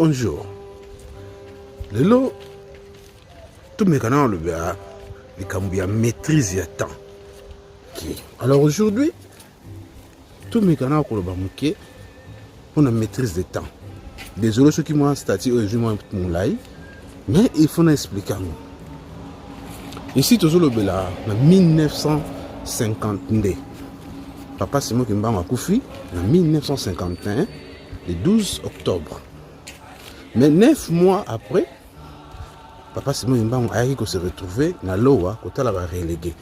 bonjour lelo tomeka na olobela likambo ya maîtrise ya temps okay. alors aujourd'hui tomeka na koloba moke mpo na maîtrise de temps désolé soki mwa statut oyo ezwi mwa molai mais il faut na explike yango esi tozolobela na 1952 papa simo kimbango akufi na 1951 le 12 octobre mais 9 mois après papa simon mbango ayaki ko se retrouver na lowa kotala ba relégué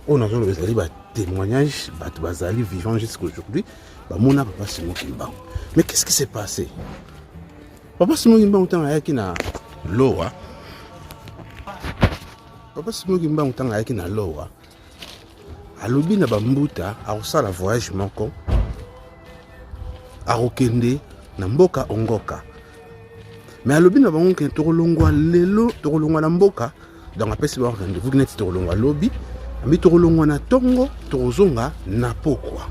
oyo nazoloba ezali ba témoignage bato bazali vivant jusqu'à aujourd'hui bamona papa simon kimbango mais qu'est ce qui s'est passé papa simon kimbango ntango ayaki na lowa papa simon kimbango ntango ayaki na lowa alobi na bambuta akosala voyage moko akokende na mboka ongoka me alobi na bango kende tokolongwa lelo tokolongwa na mboka donc apesi bango rendez-vous neti tokolongwa lobi ambi tokolongwa na ntongo tokozonga na pokwa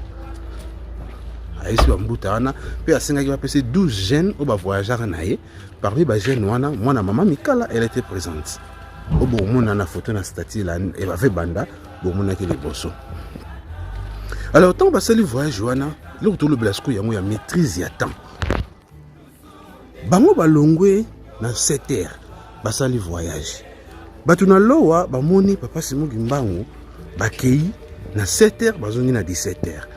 ayesi bambuta wana mpe asengaki bapesi 12 jeune oyo bavoyageaka na ye Parmi ba jeunes wana mwana mama Mikala elle était présente. Obo mona na photo na statut la et ba fait banda bo mona ki liboso. Alors tant ba sali voyage wana le retour le blasco yango ya maîtrise ya temps. Bango ba longwe na 7 heures ba sali voyage. Batu na lowa ba moni papa Simon Gimbangu ba keyi na 7 heures bazongi na 17 heures.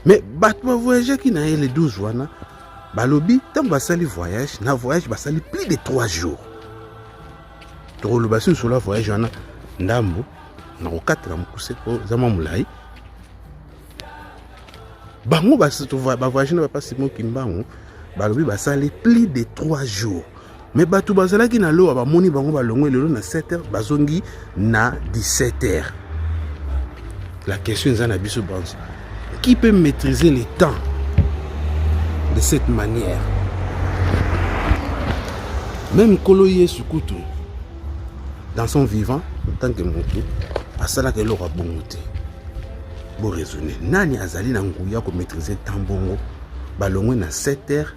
Mais batu ba voyage ki na ye le 12 wana balobi ntango basali voyage na voyage basali plus de 3 jours tokoloba si nsolo ya voyage wana ndambo na kokatela mokuse po eza mwa molai bango bavoyage na bapasi mokimbango balobi basali plus de 3 jours me bato bazalaki na lowa bamoni bango balongwe lelo na 7 heures bazongi na 17 heures la question eza na biso banso qui peut maîtriser le temps de cette manière même nkolo yesu kutu dans son vivant en tant que motu asalaka eloko ya bongo te boraisonne nani azali na nguya komaîtrise temps bongo balongwe na 7 heures